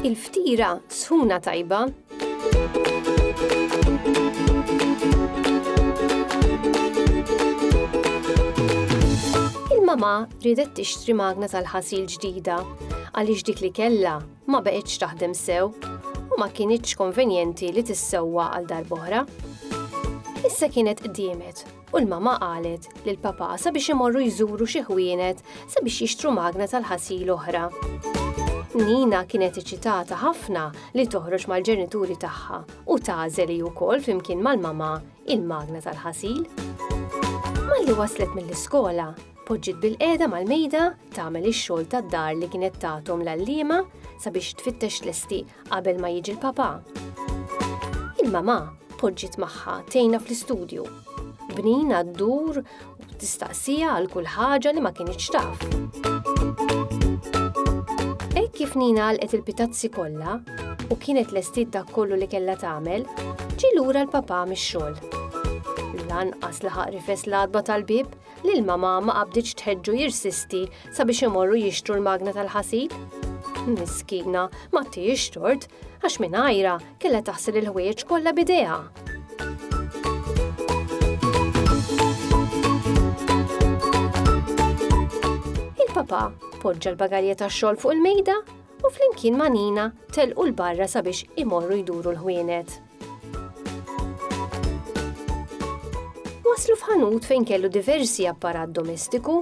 Il-ftira sħuna tajba Il-mama ridet tixtri magna tal-ħasil ġdida għaliex dik li kellha ma baqgħetx taħdem sew u ma kinitx konvenjenti li tissewwa għal darb'oħra. Issa kienet qdiemet u l-mama qalet li l-papa sabiex imorru jżuru xi ħwienet sabiex jixtru magna tal-ħasil oħra. Nina kienet iċitata ħafna li toħroġ mal-ġenituri tagħha u tażel hi wkoll flimkien mal-mama il-magna tal-ħasil. Malli waslet mill-iskola, Tpoġġiet bilqiegħda mal-mejda tagħmel ix-xogħol tad-dar li kienet tagħthom l-għalliema sabiex tfittex tlesti qabel ma jiġi l-papà. Il-mamà poġġiet magħha tgħinha fl-istudju. Bnina ddur u tistaqsija għal kull ħaġa li ma kinitx taf. Hekk kif Nina għalqet il-pitazzi kollha u kienet lestiet dak kollu li kellha tagħmel, ġie lura l-papà mix-xogħol. Lanqas laħaq rifes l-għadba tal-bib L-mamà ma qabditx tħeġġu jirsisti sabiex imorru jixtru l-magna tal-ħasil. Miskina, ma tijiex tort, għax minn għajra kella taħsil il-ħwejjeġ kollha bidejha. Il-papa poġġa l-bagalja tax-xogħol fuq il-mejda u flimkien ma' Nina telqu l-barra sabiex imorru jduru l-ħwienet. Waslu f'ħanut fejn kellu diversi apparat domestiku,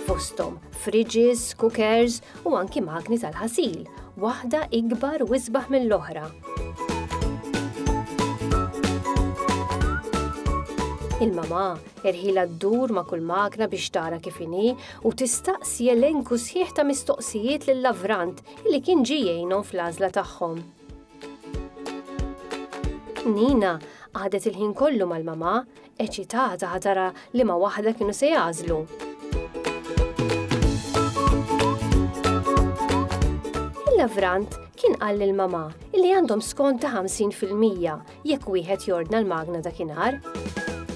fostom fridges, cookers u anki magni tal-ħasil, waħda ikbar u isbaħ mill-oħra. Il-mama irħila d-dur ma' kull magna biex tara kif inhi u tistaqsi elenku sħiħ ta' mistoqsijiet lill-lavrant li kien ġijejnhom fl-għażla tagħhom. Nina qagħdet il-ħin kollu mal-mamà, eċitata ħatara li ma waħda kienu se jagħżlu. Il-Lavrant kien qal lil mamà li għandhom skont ta' 50% jekk wieħed jordna l-magna dakinhar.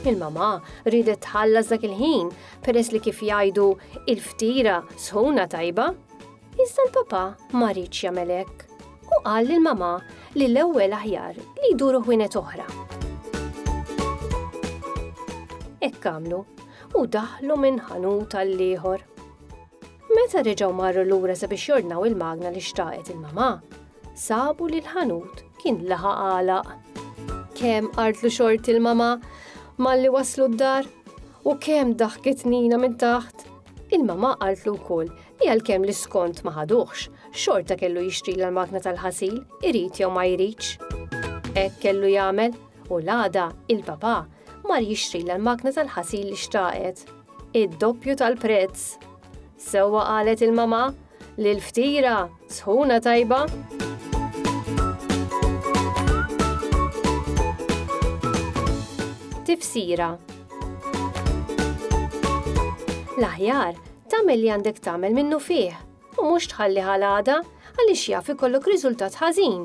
Il-mamà ridet tħallas dak il-ħin peress li kif jgħidu il-ftira sħuna tajba. Iżda l-papà ma riedx jagħmel hekk. Hu qal lil mamà li l-ewwel aħjar li jduru ħwienet oħra. Hekk għamlu u daħlu minn ħanut għall-ieħor. Meta reġgħu marru lura sabiex jordnaw il-magna li xtaqet il-mamà, sabu li l-ħanut kien laħa għalaq. Kemm artlu xort il-mamà malli waslu d-dar u kemm daħkit nina minn taħt Il-mama qaltlu wkoll li għalkemm l-iskont ma ħaduhx, xorta kellu jixtri l-makna tal-ħasil, irid jew ma jridx. Hekk kellu jagħmel u l-għada il-papà mar jixtri l-makna tal-ħasil li xtaqet. Id-doppju tal-prezz! Sewwa qalet il-mama Lil ftira, sħuna tajba! Tifsira L-aħjar, tagħmel li għandek tagħmel minnu fih u mhux tħalli ħal għada għaliex jaf ikollok riżultat ħażin